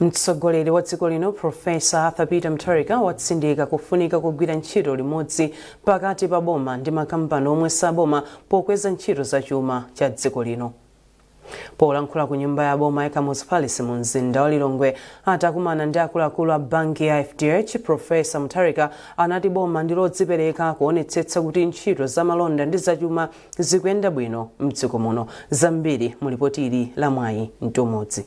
mtsogoleri wa dziko lino profesa arthur peter mutharika watsindika kufunika kugwira ntchito limodzi pakati pa boma ndi makampani omwe saboma pokweza ntchito za chuma cha dziko lino polankhula ku nyumba ya boma ya kamuzu palace mu mzinda wa lilongwe atakumana ndi akuluakulu a banki ya fdh profesa mutharika anati boma ndi lodzipereka kuonetsetsa kuti ntchito za malonda ndi zachuma Zikuyenda bwino mdziko muno. Zambiri mu lipoti ili la Mwayi Mtumodzi.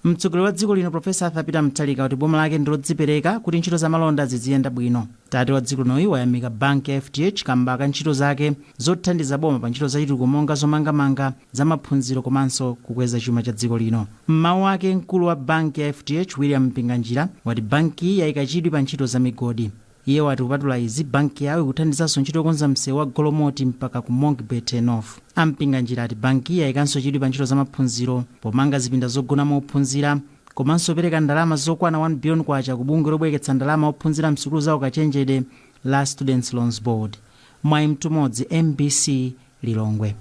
Mtsogoleri wa dziko lino Professor Arthur Peter Mutharika wati boma lake ndi lodzipereka kuti ntchito za malonda ziziyenda bwino. Tate wa dziko linoyu wayamika banki ya FDH kamba ka ntchito zake zothandiza boma pa ntchito zachitukuko monga zomangamanga, za maphunziro komanso kukweza chuma cha dziko lino. M'mawu ake mkulu wa banki ya FDH William Mpinganjira wati bankiyi yaika chidwi pa ntchito za migodi. Iye wati kupatula izi, banki yawo ikuthandizanso ntchito yokonza msewu wa Golomoti mpaka ku Monkey Bay Turnoff. A Mpinganjira ati bankiyi yayikanso chidwi pa ntchito za maphunziro pomanga zipinda zogonamo ophunzira komanso kupereka ndalama zokwana K1 biliyoni ku bungwe lobwereketsa ndalama ophunzira msukulu za ukachenjede la Students Loans Board. Mwayi Mtumodzi, mbc, Lilongwe.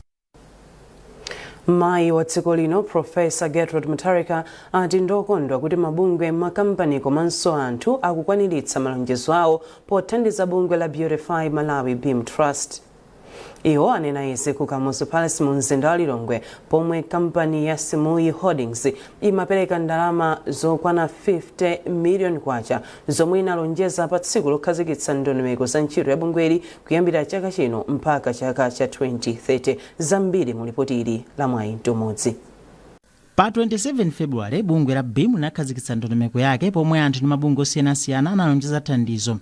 mayi wa dziko lino profesa gertrude mutharika ati ndokondwa kuti mabungwe makampani komanso anthu akukwaniritsa malonjezo awo pothandiza bungwe la beautify malawi beam trust iwo anena izi ku kamuzu palace mu mzinda wa lilongwe pomwe kampani ya simuyi holdings imapereka ndalama zokwana 50 miliyoni kwacha zomwe inalonjeza pa tsiku lokhazikitsa ndondomeko za ntchito ya bungweli Kuyambira chaka chino mpaka chaka cha 2030, zambiri mu lipoti ili la Mwayi Mtumodzi. Pa 27 February, bungwe la beam linakhazikitsa ndondomeko yake pomwe anthu ndi mabungwe osiyanasiyana analonjeza thandizo.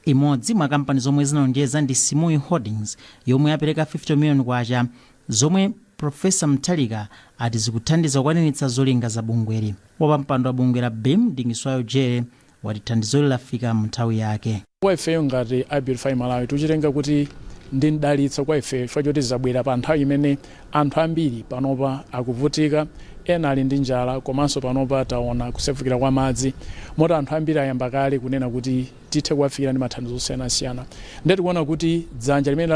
Imodzi mwa kampani zomwe zinalonjeza ndi Simuyi Holdings yomwe yapereka K50 million zomwe Professor Mutharika ati zikuthandiza kukwaniritsa zolinga za bungweli. Wapampando wa bungwe la beam, Dingiswayo Jere, wati thandizoli lafika mu nthawi yake. Kwa ifeyo ngati a Beautify Malawi tikuchitenga kuti ndi m'dalitso kwa ifeyo chifukwa choti zabwera pa nthawi imene anthu ambiri panopa akuvutika, ena ali ndi njala komanso panopa taona kusefukira kwa madzi moti anthu ambiri ayamba kale kunena kuti tithe kuwafikira ndi mathandizo osiyanasiyana nde tikuona kuti dzanja limene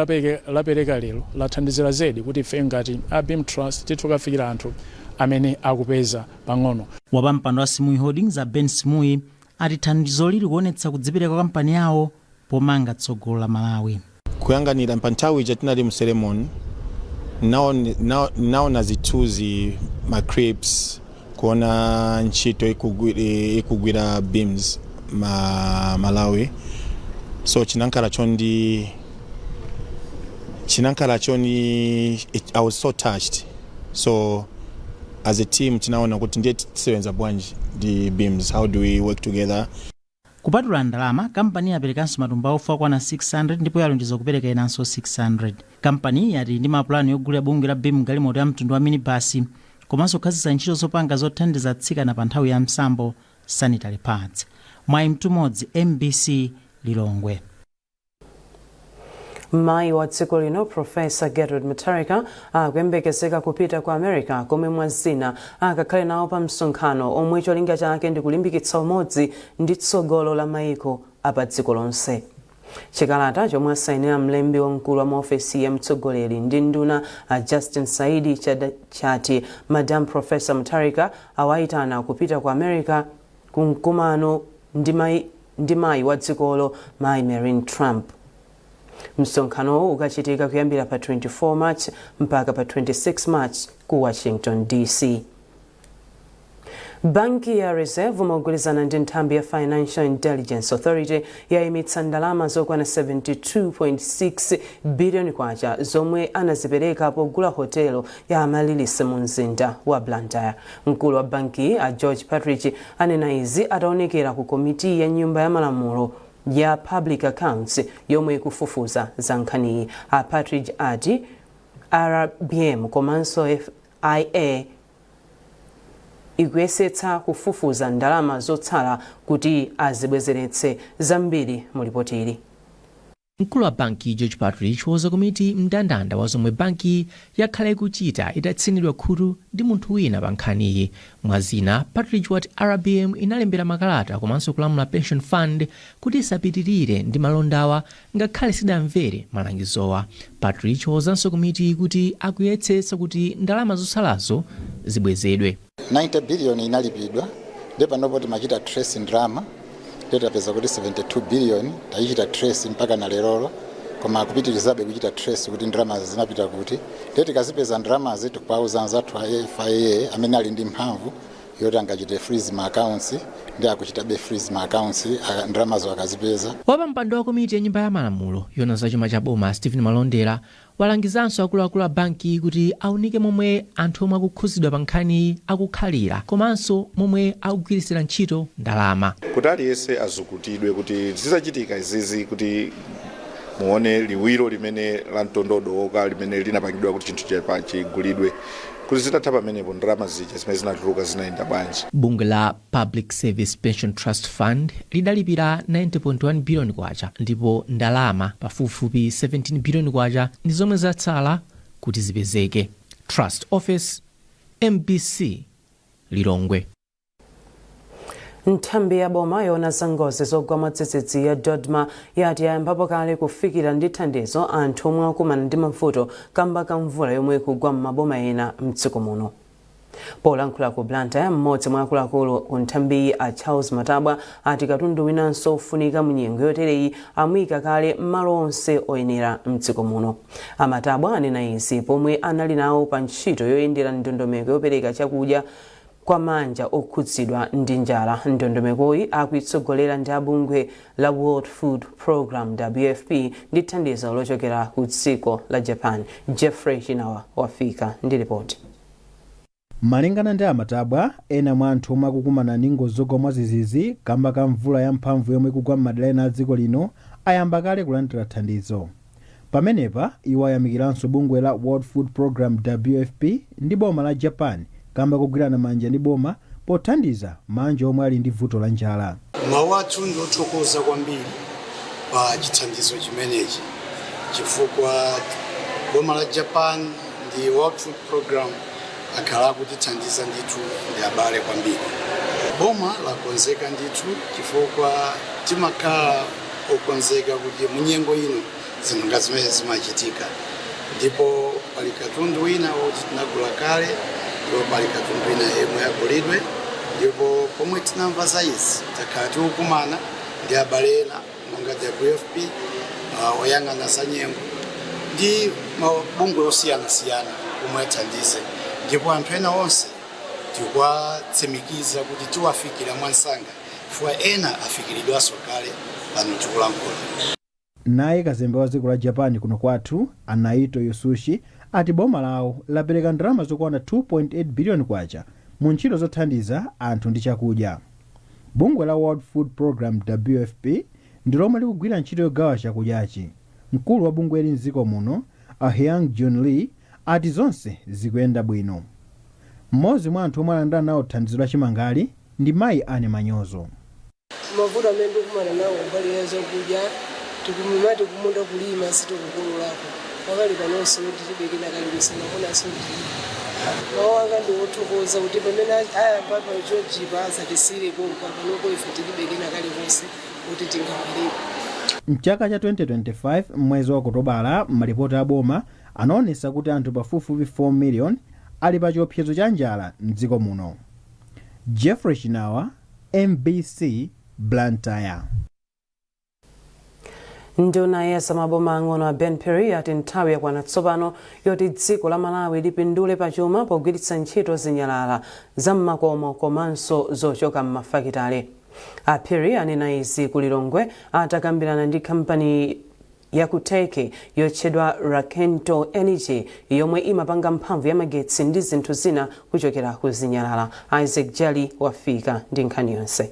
lapereka lero lathandizira zedi kuti ifeyo ngati a Beam Trust tithe kuwafikira anthu amene akupeza pang'ono. Wapampando wa Simuyi Holdings a Ben Simuyi ati thandizoli likuonetsa kudzipereka kwa kampani yawo pomanga tsogolo la Malawi. Kuyanganira pa nthawi ija tinali mu ceremony naona zithuzi ma clips kuona ntchito ikugwira beams ma Malawi so chinankala chondi chinankala choni I was so touched so as a team tinaona kuti ndiye tisewenza bwanji ndi BEAM how do we work together Kupatula ndalama, kampaniyi yaperekanso matumba a ufa okwana 600 ndipo yalonjeza kupereka enanso 600. Kampaniyi yati ili ndi mapulani yogulira bungwe la BEAM galimoto ya mtundu wa minibasi komanso kukhazikitsa ntchito zopanga zothandiza atsikana pa nthawi ya msambo, sanitary pads. Mwayi Mtumodzi, MBC Lilongwe. mayi wa dziko lino profesa gertrude mutharika akuyembekezeka kupita ku america komwe mwa zina akakhale nawo pa msonkhano omwe cholinga chake ndi kulimbikitsa umodzi ndi tsogolo la mayiko apa dziko lonse chikalata chomwe asayinira mlembi wamkulu wa maofesi ya mtsogoleri ndi nduna a justin saidi chati madam profesa mutharika awayitana kupita ku america ku mkumano ndi mai ndi mayi wa dzikolo mayi Melania Trump. Msonkhanowu ukachitika kuyambira pa 24 March mpaka pa 26 March ku Washington DC. Banki ya Reserve mogwirizana ndi nthambi ya Financial Intelligence Authority yayimitsa ndalama zokwana 72.6 billion kwacha zomwe anazipereka pogula hotelo ya Amaryllis mu mzinda wa Blantyre. Mkulu wa bankiyi a George Partridge anena izi ataonekera ku komiti ya nyumba ya malamulo ya Public Accounts yomwe ikufufuza za nkhaniyi. A Partridge ati RBM komanso FIA ikuyesetsa kufufuza ndalama zotsala kuti azibwezeretse zambiri mu lipotili. Mkulu wa bankiyi, George Partridge, wauza komiti mndandanda wa zomwe bankiyi yakhala ikuchita itatsinidwa khutu ndi munthu wina pa nkhaniyi. Mwa zina, Partridge wati RBM inalembera makalata komanso kulamula Pension Fund kuti isapitirire ndi malondawa ngakhale sidamvere malangizowa. Partridge wauzanso komitiyi kuti akuyesetsa kuti ndalama zotsalazo zibwezedwe. 90 billion inalipidwa nde panopo timachita trace ndalama nde tapeza kuti 72 billion tayichita trace mpaka na lerolo koma kupitirizabe kuchita trace kuti ndalamazi zinapita kuti nde tikazipeza ndalamazi tikuwauza anzathu a fia amene ali ndi mphamvu yoti angachite freeze ma accounts ndi akuchitabe freeze ma accounts ndalamazo akazipeza wapampando wa komiti ya nyumba ya malamulo yona za chuma cha boma stephen malondera Walangizanso akuluakulu a bankiyi kuti aunike momwe anthu omwe akukhuzidwa pa nkhaniyi akukhalira komanso momwe akugwiritsira ntchito ndalama. Kuti aliyese azukutidwe kuti zizachitika izizi kuti muone liwiro limene la mtondo wadooka limene linapangidwa kuti chinthu chigulidwe kuti zitatha pamenepo ndalama zija zimene zinatuluka zinayenda bwanji. Bungwe la Public Service Pension Trust Fund, lidalipira K90.1 biliyoni ndipo ndalama pafupifupi K17 biliyoni ndi zomwe zatsala kuti zipezeke. Trust Ofesi, mbc, Lilongwe. Nthambi ya boma yoona za ngozi zogwa mwadzidzidzi ya DoDMA yati yayambapo kale kufikira ndi thandizo anthu omwe akumana ndi mavuto kamba ka mvula yomwe ikugwa m'maboma ena m'dziko muno. polankhula ku blantyre mmodzi mwa akuluakulu ku nthambiyi a charles matabwa ati katundu winanso ofunika mu nyengo yotereyi amuyika kale m'malo onse oyenera mdziko muno a matabwa anena izi pomwe anali nawo pa ntchito yoyendera ndondomeko yopereka chakudya kwa maanja okhudzidwa ndi njala ndondomekoyi akuitsogolera ndi abungwe la World Food Programme, WFP, ndi thandizo lochokera ku dziko la Japan. Jeffrey Chinawa wafika ndi lipoti. Malingana ndi a Matabwa, ena mwa anthu omwe akukumana ndi ngozi zogwa mwadzidzidzi kamba ka mvula ya mphamvu yomwe ikugwa m'madera ena a dziko lino ayamba kale kulandira thandizo. Pamenepa, iwo ayamikiranso bungwe la World Food Programme, WFP, ndi boma la Japan kamba kogwirana manja ndi boma pothandiza maanja omwe ali ndi vuto la njala. Mawu athu ndi othokoza kwambiri pa chithandizo chimenechi chifukwa boma la Japan ndi World Food Programme akhala akutithandiza ndithu ndi abale kwambiri. Boma lakonzeka ndithu chifukwa timakhala okonzeka kuti munyengo ino zinthu ngati zimenezi zimachitika ndipo pali katundu wina woti tinagula kale ndipo pali katundu wina yemwe agulidwe ndipo pomwe tinamva za izi takhala tikukumana ndi abale ena monga WFP uh, oyang'ana za nyengo ndi mabungwe osiyanasiyana omwe athandize ndipo anthu ena onse tikuwatsimikiza kuti tiwafikira mwamsanga chifukwa ena afikiridwanso kale pano tikulankhula. Naye kazembe wa dziko la Japan kuno kwathu, a Naito Yasushi, ati boma lawo lapereka ndalama zokwana K2.8 biliyoni mu ntchito zothandiza anthu ndi chakudya. Bungwe la World Food Programme, WFP, ndi lomwe likugwira ntchito yogawa chakudyachi. Mkulu wa bungweli m'dziko muno, a Hyoung-Joon Lim, ati zonse zikuyenda bwino. Mmodzi mwa anthu omwe alandira nawo thandizo la chimangali, ndi mayi Anne Manyozo. Mavuto amene ndikukumana nawo kumbali ya zakudya tikumati kumunda kulima sitikukololako pakali panonso ndilibe kena kalikonse mamunanso ndilibe mawu anga ndi othokoza kuti pamene ayamba pa chojipa asatisiyire pompa panopo ife tilibe kena kalikonse kuti tingapeleke M'chaka cha 2025 m'mwezi wa Okotobala malipoti a boma anaonesa kuti anthu pafupifupi 4 million ali pa chiopsezo cha njala m'dziko muno. Jeffrey Chinawa, mbc, Blantyre. Nduna ya zamaboma ang'ono a Ben Phiri ati nthawi yakwana tsopano yoti dziko la Malawi lipindule pachuma pogwiritsa ntchito zinyalala za m'makomo komanso zochoka m'mafakitale. A Phiri anena izi ku Lilongwe atakambirana ndi kampani ya ku Turkey yotchedwa Rakento Energy yomwe imapanga mphamvu ya magetsi ndi zinthu zina kuchokera ku zinyalala. Isaac Jali wafika ndi nkhani yonse.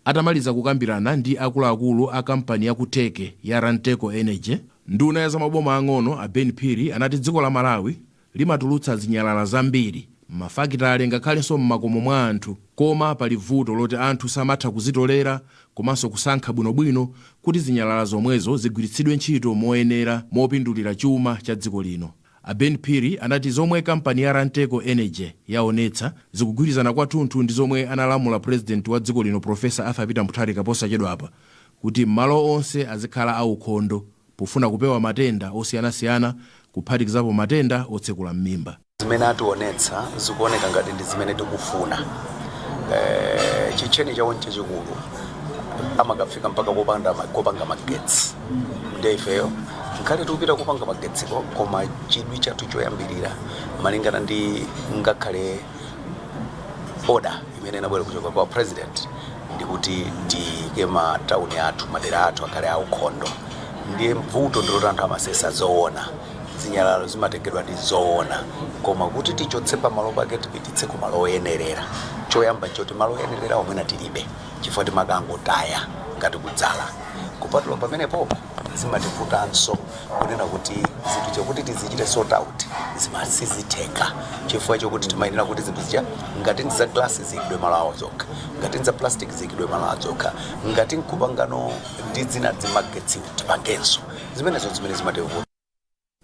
Atamaliza kukambirana ndi akuluakulu a kampani ya ku Turkey ya Ranteco Energy, nduna ya zamaboma ang'ono a Ben Phiri anati dziko la Malawi Limatulutsa zinyalala zambiri m'mafakitale ngakhalenso m'makomo mwa anthu. Koma pali vuto loti anthu samatha kuzitolera komanso kusankha bwinobwino kuti zinyalala zomwezo zigwiritsidwe ntchito moyenera mopindulira chuma cha dziko lino. A Ben Phiri anati zomwe kampani ya Ranteco Energy yaonetsa zikugwirizana kwathunthu ndi zomwe analamula Pulezidenti wa dziko lino Professor Arthur Peter Mutharika posachedwapa kuti malo onse azikhala aukhondo. pofuna kupewa matenda osiyanasiyana kuphatikizapo matenda otsekula m'mimba. Zimene ationetsa zikuoneka ngati ndi zimene tikufuna. Eh, chitcheni chawo nchachikulu amakafika mpaka kopanga magetsi nde ifeyo nkhale tikupita kupanga magetsiko koma chidwi chathu choyambirira malingana ndi ngakhale oda imene inabwera kuchoka kwa president ndikuti tiyike matauni athu madera athu akhale aukhondo ndiye mvuto ndiloti anthu amasesa zoona zinyalalo zimatengedwa ndi zoona koma kuti tichotse pamalo pake tipititse ku malo oyenerera choyamba nchoti malo oyenerera omwewo tilibe chifukwa timakangotaya ngati kudzala kupatula pamenepo zimativutanso kunena kuti zinthu chakuti tizichite sort out zimasizitheka chifukwa chokuti timayenera kuti zinthu zija ngati ndi za glasi ziyikidwe malo awo zokha ngati ndi za plastic ziyikidwe malo awo zokha ngati nkupangano ndi zina zimagetsi tipangenso zimenezo zimene zimativuta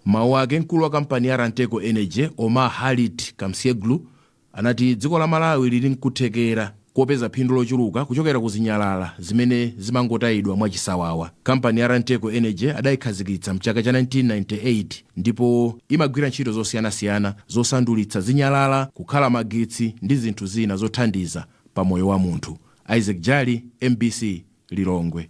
M'mawu ake, mkulu wa kampani ya Ranteco Energy, Omer Halit Kamsyeglu, anati dziko la Malawi lili n'kuthekera kopeza phindu lochuluka kuchokera ku zinyalala zimene zimangotayidwa mwachisawawa. Kampani ya Ranteco Energy adayikhazikitsa m'chaka cha 1998 ndipo imagwira ntchito zosiyanasiyana zosandulitsa zinyalala kukhala magetsi ndi zinthu zina zothandiza pa moyo wa munthu. Isaac Jali, mbc, Lilongwe.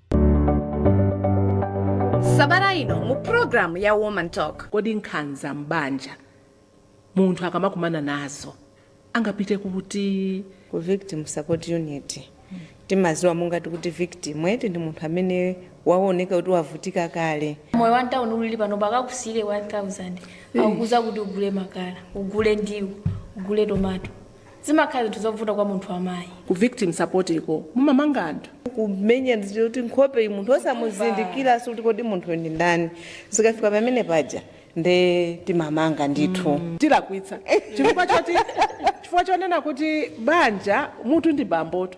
sabata ino mu programu ya woman talk kodi nkhanza m'banja munthu akamakumana nazo angapite kuti ku victim support unit timaziwa mungati kuti victim eti ndi munthu amene waoneka kuti wavutika kale moyo wa mtauni ulili pano akakusiyire 1000 akukuuza kuti ugule makala ugule ndiwo ugule tomato zimakhala zinthu zovuta kwa munthu wamayi ku victim support iko mumamanga anthu kumenya ndizo kuti nkhope munthu osamuzindikiranso kuti kodi munthu ndi ndani zikafika pamene paja nde timamanga ndithu tilakwitsa chifukwa chonena kuti banja mutu ndi bamboto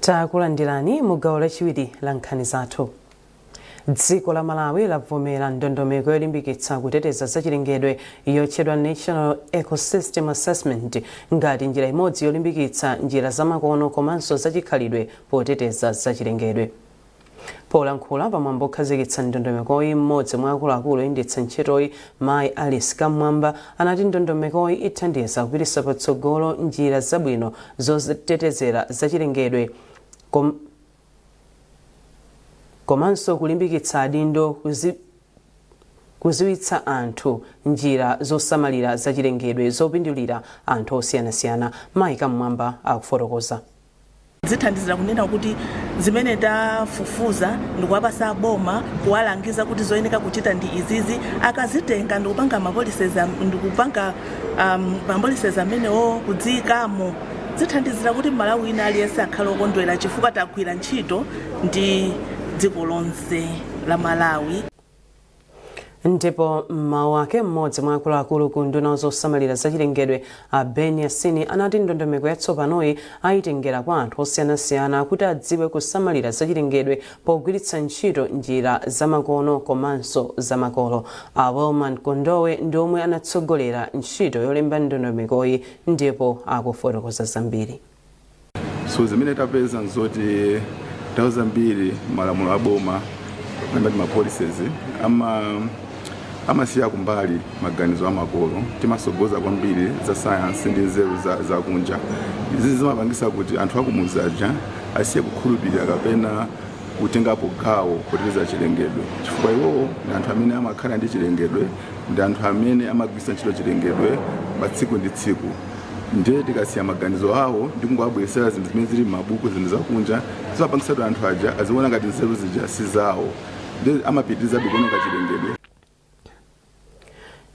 takulandirani mu gawo lachiwiri la nkhani zathu dziko la malawi lavomera ndondomeko yolimbikitsa kuteteza zachilengedwe yotchedwa national ecosystem assessment ngati njira imodzi yolimbikitsa njira zamakono komanso zachikhalidwe poteteza zachilengedwe Polankhula pa mwambo okhazikitsa ndondomekoyi, m'modzi mwa akuluakulu oyendetsa ntchitoyi mayi Alice Kam'mwamba anati ndondomekoyi ithandiza kupititsa patsogolo njira zabwino zotetezera zachilengedwe kom komanso kulimbikitsa adindo kuzi kuziwitsa anthu njira zosamalira zachilengedwe zopindulira anthu osiyanasiyana. Mayi Kam'mwamba akufotokoza. zithandizira kunena kuti zimene tafufuza ndikuwapasa aboma kuwalangiza kuti zoyeneka kuchita ndi izizi akazitenga ndikupanga mapolicies am- ndikupanga um, mapolicies amenewo kudziyikamo zithandizira kuti malawi wina aliyense akhale okondwera chifukwa tagwira ntchito ndi dziko lonse la malawi ndipo m'mawu ake mmodzi mwa akuluakulu ku unduna wa zosamalira zachilengedwe a ben yasini anati ndondomeko yatsopanoyi ayitengera kwa anthu osiyanasiyana kuti adziwe kusamalira zachilengedwe pogwiritsa ntchito njira zamakono komanso zamakolo a wilman kondowe ndi omwe anatsogolera ntchito yolemba ndondomekoyi ndipo akufotokoza zambiri so zimene tapeza nzoti nthawi zambiri malamulo a boma ngati ma policies ama amasiya kumbali maganizo amakolo timasogoza kwambiri za sayansi ndi nzeru za, za kunja izi zimapangisa kuti anthu akumudzi aja asiye kukhulupirira kapena kutengapo gawo poteteza chilengedwe chifukwa iwowo ndi anthu amene amakhala ndi chilengedwe ndi anthu amene amagwiritsa ntchito chilengedwe pa tsiku ndi tsiku ndiye tikasiya maganizo awo ndi kungowabweretsera zinthu zimene zili m'mabuku zinthu zakunja zimapangitsa kuti anthu aja aziona ngati nzeru zija si zawo ndiye amapitirizabe kuwononga chilengedwe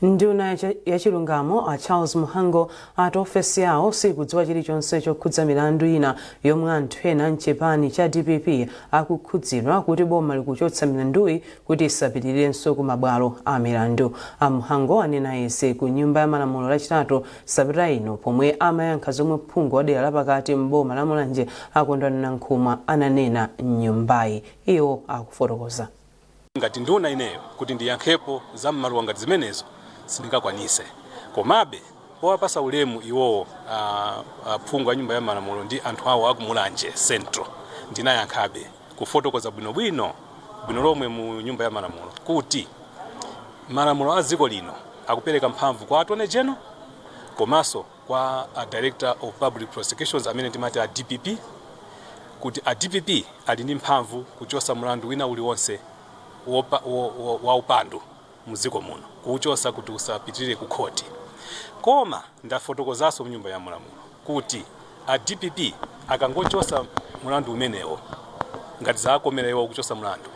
nduna ya chilungamo a charles mhango ati ofesi yawo sikudziwa chilichonse chokhudza milandu ina yomwe anthu ena mchipani cha dpp akukhudzidwa kuti boma likuchotsa milanduyi kuti isapitirirenso ku mabwalo a milandu. A Mhango anena izi ku nyumba ya malamulo lachitatu sabata ino pomwe amayankha zomwe phungu wa dera lapakati m'boma la Mulanje a Kondwani Nankhumwa ananena m'nyumbayi. Iwo akufotokoza. Ngati nduna ineyo kuti ndiyankhepo za m'maluwa ngati zimenezo sindingakwanise. Komabe powapasa ulemu iwowo aphungu a nyumba ya malamulo ndi anthu awo a ku Mulanje central ndinayankhabe. kufotokoza bwinobwino bwino lomwe mu nyumba ya malamulo kuti malamulo a dziko lino akupereka mphamvu kwa attorney general komanso kwa a director of public prosecutions amene timati a dpp kuti a dpp ali ndi mphamvu kuchotsa mlandu wina uliwonse wa upandu mdziko muno kuuchosa kuti usapitirire ku khoti koma ndafotokozaso mnyumba ya malamulo kuti a dpp akangochosa mulandu umenewo ngati zawakomera iwo kuchosa mulandu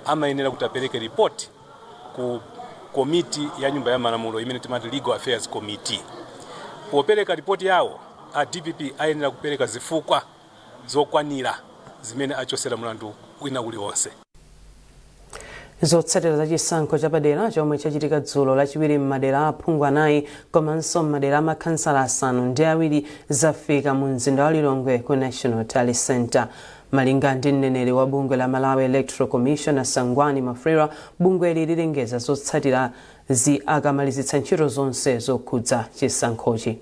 amayenera kuti apereke report ku komiti ya nyumba ya malamulo imene timati legal affairs committee popereka report yawo a dpp ayenera kupereka zifukwa zokwanira zimene achosera mlandu wina uliwonse. Zotsatira za chisankho chapadera chomwe chachitika dzulo lachiwiri m'madera a aphungu anayi komanso m'madera a makhansala asanu ndi awiri zafika mu mzinda wa Lilongwe ku National Tally Centre. Malinga ndi mneneri wa bungwe la Malawi Electoral Commission a Sangwani Mwafulirwa, bungweli lilengeza zotsatirazi akamalizitsa ntchito zonse zokhudza chisankhochi.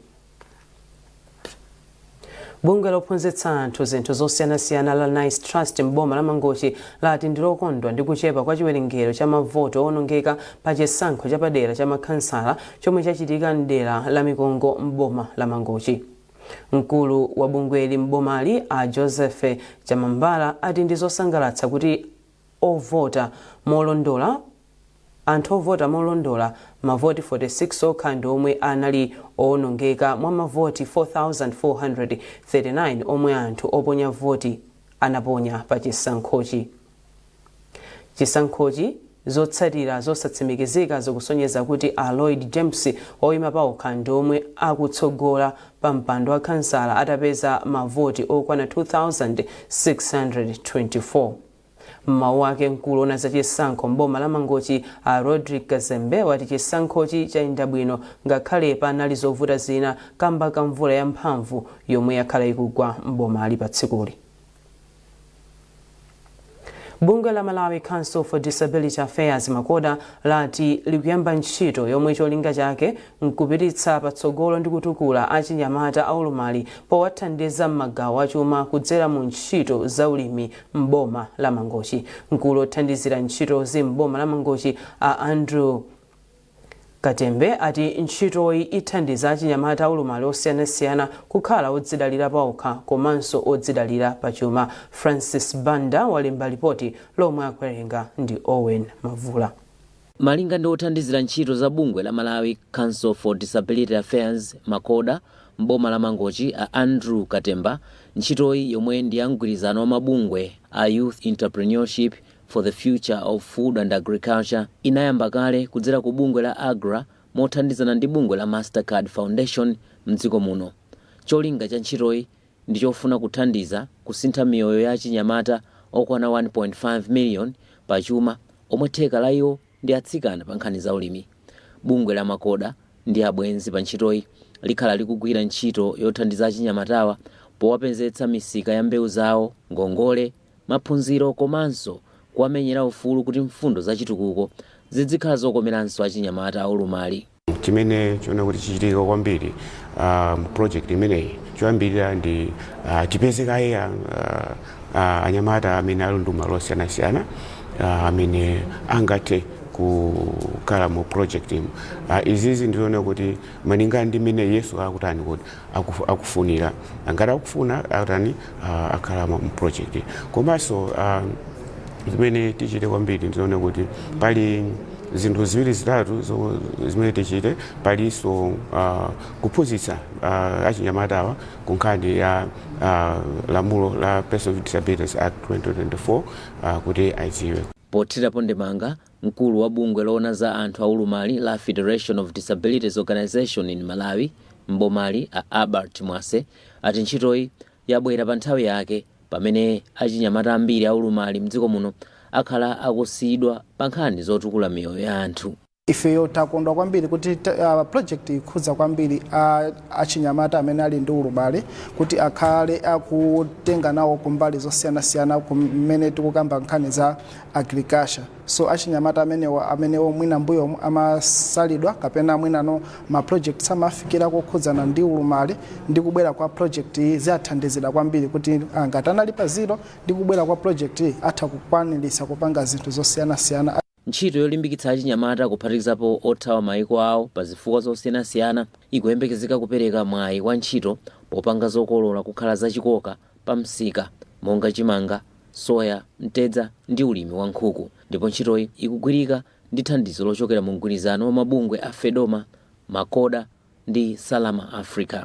bungwe lophunzitsa anthu zinthu zosiyanasiyana la nice trust m'boma la mangochi lati ndilokondwa ndi kuchepa kwa chiwerengero cha mavoto owonongeka pa chisankho chapadera cha makhansala chomwe chachitika mdera la mikongo m'boma la mangochi mkulu wa bungweli m'bomali a joseph chamambala ati ndi zosangalatsa kuti ovota molondola Anthu ovota molondola, mavoti 46 okha ndi omwe anali owonongeka mwa mavoti 4,439 omwe anthu oponya voti anaponya pa chisankhochi. Chisankhochi, Zotsatira zosatsimikizika zikusonyeza kuti a Lloyd James oyima paokha ndi omwe akutsogola pa mpando wa khansala atapeza mavoti okwana 2,624. M'mawu ake mkulu owona za chisankho m'boma la Mangochi a Rodrick Kazembe ati chisankhochi chayenda bwino ngakhale panali zovuta zina kamba ka mvula ya mphamvu yomwe yakhala ikugwa m'bomali pa tsikuli. Bungwe la Malawi Council for Disability Affairs Macoda lati likuyamba ntchito yomwe cholinga chake nkupititsa patsogolo ndi kutukula achinyamata aulumali powathandiza m'magawo achuma kudzera mu ntchito za ulimi m'boma la Mangochi. Mkulu othandizira ntchitozi m'boma la Mangochi a Andrew Katembe ati ntchitoyi ithandiza achinyamata aulumali osiyanasiyana kukhala odzidalira paokha komanso odzidalira pachuma. Francis Banda walemba lipoti lomwe akuwerenga ndi Owen Mavula. Malinga ndi othandizira ntchito za bungwe la Malawi Council for Disability Affairs, Macoda, m'boma la Mangochi a Andrew Katemba, ntchitoyi yomwe ndi ya mgwirizano wa mabungwe a Youth Entrepreneurship for the Future of Food and Agriculture inayamba kale kudzera ku bungwe la AGRA mothandizana ndi bungwe la Mastercard Foundation m'dziko muno. Cholinga cha ntchitoyi ndi chofuna kuthandiza kusintha miyoyo ya achinyamata okwana 1.5 miliyoni pa chuma omwe theka la iwo ndi atsikana pa nkhani za ulimi. Bungwe la Macoda ndi abwenzi pa ntchitoyi likhala likugwira ntchito yothandiza achinyamatawa powapezetsa misika ya mbewu zawo, ngongole, maphunziro komanso kuwamenyera ufulu kuti mfundo za chitukuko zidzikhala zokomeranso achinyamata aulumali. chimene chiona kuti chichitika kwambiri ah, mu project imeneyi choyambirira ndi ah, tipeze kaye ah, ah, anyamata amene ali ndi ulumali osiyanasiyana ah, amene angathe kukhala mu project imo Ah, izizi ndiona kuti malinga ndi mmene yesu akutani kuti aku, akufunira ngati akufuna atani uh, akhala mu project komanso uh, zimene tichite kwambiri ndiona kuti pali zinthu ziwiri zitatu zo- zimene tichite palinso uh, kuphunzitsa uh, achinyamatawa ku nkhani ya uh, lamulo la Persons with Disabilities Act 2024 uh, kuti adziwe. Pothirapo ndemanga Mkulu wa bungwe loona za anthu aulumali la Federation of Disabilities Organisation in Malawi m'bomali a Albert Mwase ati ntchitoyi yabwera pa nthawi yake pamene achinyamata ambiri aulumali mdziko muno akhala akusiyidwa pa nkhani zotukula miyoyo ya anthu. Ifeyo takondwa kwambiri kuti project iyi ikhudza kwambiri achinyamata amene ali ndi ulumali kuti akhale akutenga nawo kumbali zosiyanasiyana kumene tikukamba nkhani za agriculture. So achinyamata amenewa amenewo mwina mbuyomu amasalidwa kapena mwinano ma project samafikira kukhudzana ndi ulumali ndi kubwera kwa project iyi ziwathandizira kwambiri kuti ah, ngati anali pa zero ndi kubwera kwa project iyi atha kukwanirisa kupanga zinthu zosiyanasiyana Ntchito yolimbikitsa achinyamata kuphatikizapo othawa mayiko awo pa zifukwa zosiyanasiyana ikuyembekezeka kupereka mwayi wa ntchito popanga zokolola kukhala zachikoka pa msika monga chimanga, soya, mtedza ndi ulimi wa nkhuku ndipo ntchitoyi ikugwirika ndi thandizo lochokera mu mgwirizano wa mabungwe a Fedoma, Macoda ndi Salama Africa.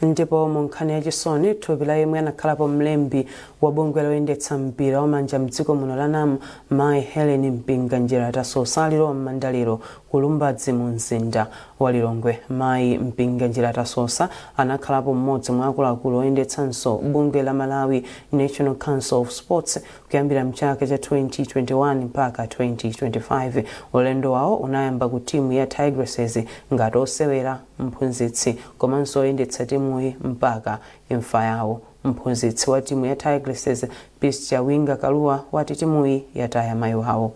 Ndipo mu nkhani ya chisoni, thupi la yemwe anakhalapo mlembi wa bungwe loyendetsa mpira wa manja mdziko muno la NAM, Mai Hellen Mpinganjira Tasosa alilowa m'manda lero Ku Lumbadzi mu mzinda wa Lilongwe, mayi Mpinganjira Tasosa anakhalapo m'modzi mwa akuluakulu oyendetsanso bungwe la Malawi National Council of Sports kuyambira mchaka cha 2021 mpaka 2025. Ulendo wawo unayamba ku timu ya Tigresses ngati osewera, mphunzitsi komanso oyendetsa timuyi mpaka imfa yawo. Mphunzitsi wa timu ya Tigresses, Peace Chawinga Kalua wati timuyi yataya mayi wawo.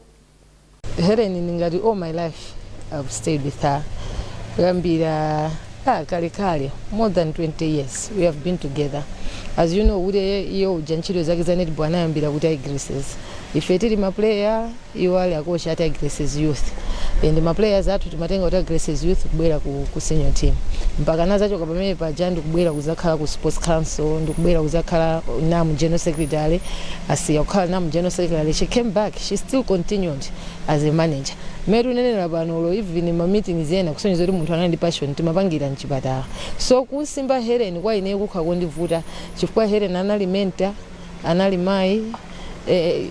Helen ndi ngati all my life I've stayed with her kuyambira ah, kalekale more than 20 years we have been together as you know kuti iwo uja ntchito zake za netball anayambira ku Tigresses ife tili maplayer iwo ali akochi a Tigresses youth and maplayers athu timatenga ku Tigresses youth kubwera ku, ku senior team mpaka anazachoka pamene paja ndikubwera kuzakhala ku sports council ndikubwera kuzakhala NAM general secretary atasiya kukhala NAM general secretary she came back she still continued as a manager mmene tikunenera pano olo even ma meetings ena kusonyeza kuti munthu anali ndi passion timapangira mchipatala so kumsimba Hellen kwa ineyo kukhala kondivuta chifukwa Hellen anali mentor anali mayi eh,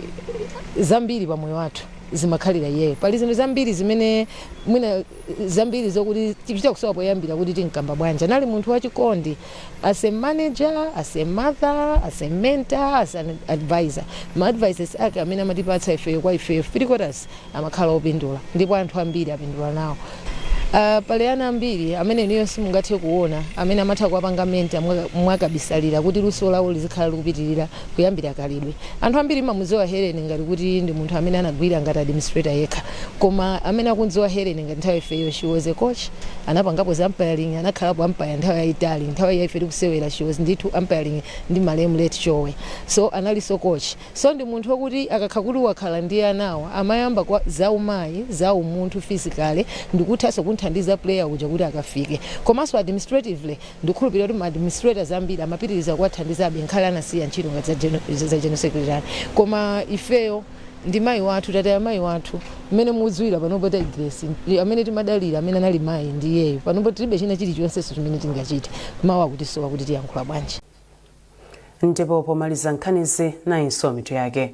zambiri pa moyo wathu zimadalira iyeyo pali zinthu zambiri zimene mwina zambiri zokuti tichita kusowa poyambira kuti timkamba bwanji anali munthu wachikondi As a manager, as a mother, as a mentor, as an advisor, ma advices ake amene amatipatsa ifeyo kwa ifeyo three quarters amakhala opindula ndipo anthu ambiri apindula nawo. Uh, pali ana ambiri amene inuyo simungathe kuona amene amatha kuwapanga mentor mwakabisalira kuti luso lawo lizikhala likupitirira Kuyambira khalidwe, anthu ambiri amamudziwa Helen ngati kuti ndi munthu amene anagwira ngati administrator yekha, koma amene akumdziwa Helen ngati ngati ifeyo she was a coach, anapangapo za umpiring, anakhalapo umpire nthawi yayitali, nthawi ya ife tikusewera she was ndithu umpiring ndi malemu late Chowe, so analinso coach, so ndi munthu okuti akakhala kuti wakhala ndi anawa amayamba kaye za umayi, za umunthu physically ndikuthanso kumthandiza player uja kuti akafike komanso administratively. Ndikhulupirira kuti ma administrators ambiri amapitiriza kuwathandizabe nkhale anasiya ntchito ngati za General Secretary koma ifeyo ndi mayi wathu tataya mayi wathu mmene mudziwira panopo tayi Grace ndi amene timadalira amene anali mayi ndi iyeyo panopo tilibe china chilichonsenso chimene tingachite mawu akutisowa kuti tiyankhula bwanji. Ndipo pomaliza nkhanizi nayinso mitu yake.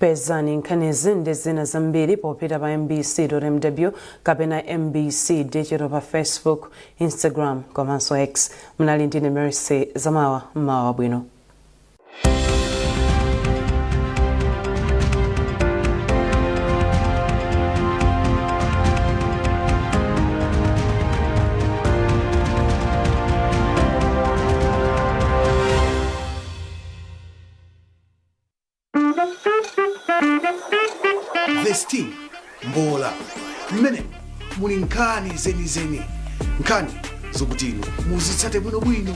pezani nkhanizi ndi zina zambiri popita pa mbc dot mw kapena mbc digital pa facebook instagram komanso x munali ndine mercy zamawa mmawa wabwino the sting mbola mmene muli nkhani zenizeni nkhani zokuti inu muzitsate bwinobwino